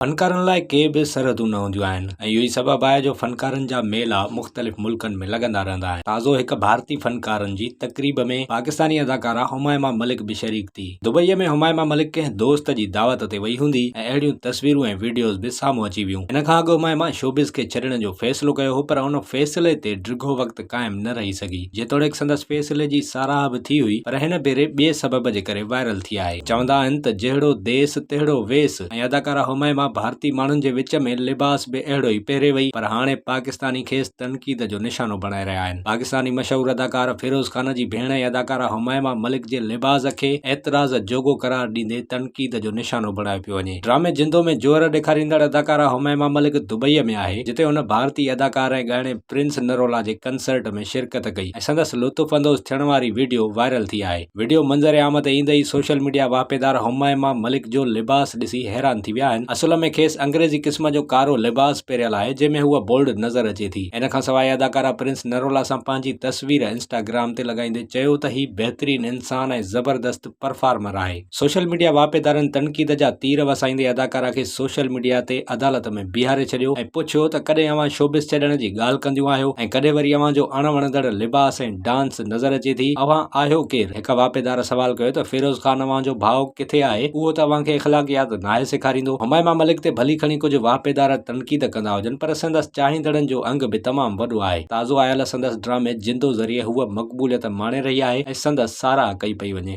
فنڪارن لاء ڪي به سرحدون نه هونديون آهن ۽ اهو ئي سبب آهي جو فنڪارن جا ميلا مختلف ملڪن ۾ لڳندا رهندا آهن. تازو هڪ ڀارتي فنڪارن جي تقريب ۾ پاڪستاني اداڪارا همائما ملڪ به شريڪ ٿي. دبئي ۾ همائما ملڪ ڪنهن دوست جي دعوت تي وئي هوندي ۽ اهڙيون تصويرون ۽ وڊيوز به سامهون اچي ويون. ان کان اڳ همائما شوبز کي ڇڏڻ جو فيصلو ڪيو هو پر ان فيصلي تي ڊگهو وقت قائم نه رهي سگهي. جيتوڻيڪ سندس فيصلي جي ساراهه به ٿي هئي پر هن ڀيري ٻئي سبب جي ڪري وائرل ٿي آهي. چوندا آهن ته جهڙو ديس تهڙو ويس. ۽ اداڪاره هميما ڀارتي ماڻهن جي وچ ۾ لباس به اهڙو ئي پهري وئي پر هاڻي پاڪستاني کيس تنقيد جو نشانو بڻائي رهيا آهن پاڪستاني مشهور اداڪار فيروز خان جي ڀيڻ ۽ اداڪاره هميما ملڪ جي لباس کي اعتراض جوڳو قرار ڏيندي تنقيد جو نشانو بڻايو پيو وڃي ڊرامي جندو ۾ جوهر ڏيکاريندڙ اداڪاره هميما ملڪ دبئي ۾ آهي جتي هن ڀارتي اداڪار ۽ ڳائڻي پرنس نرولا جي ڪنسرٽ ۾ شرڪت ڪئي ۽ سندس لطف اندوز ٿيڻ واري وڊيو وائرل ٿي آهي. وڊيو منظر عام تي ايندي ئي سوشل ميڊيا واهپيدار همائما ملڪ جو لباس ڏسي حيران ٿي ويا آهن، اصل ۾ کيس انگريزي قسم جو ڪارو لباس پهريل آهي جنهن ۾ هوء بولڊ نظر اچي ٿي، ان کان سواء اداڪارا پرنس نرولا سان پنهنجي تصوير انسٽاگرام تي لڳائيندي چيو ته هي بهترين انسان ۽ زبردست پرفارمر آهي، سوشل ميڊيا واهپيدارن تنقيد جا تير وسائيندي اداڪارا کي سوشل ميڊيا تي عدالت ۾ بيهاري ڇڏيو ۽ پڇيو ته ڪڏهن اوهان شوبز ڇڏڻ جي ڳالهه ڪنديون آهيو ۽ ڪڏهن وري اوهان جو اڻ وڻندڙ لباس ۽ ڊانس نظر اچي ٿي. اوهان آهيو ڪير؟ هڪ واپيدار سوال ڪيو ته فيروز خان اوهان جو ڀاء ڪٿي آهي؟ اهو ته اوهان کي اخلاقيات ناهي سيکاريندو. همايما ملڪ تي ڀلي کڻي ڪجهه واپيدار تنقيد ڪندا هجن پر سندس چاهيندڙن جو انگ به تمام وڏو آهي. تازو آيل سندس ڊرامي جندو ذريعي هوء مقبوليت ماڻي رهي آهي ۽ سندس ساراهه ڪئي پئي وڃي.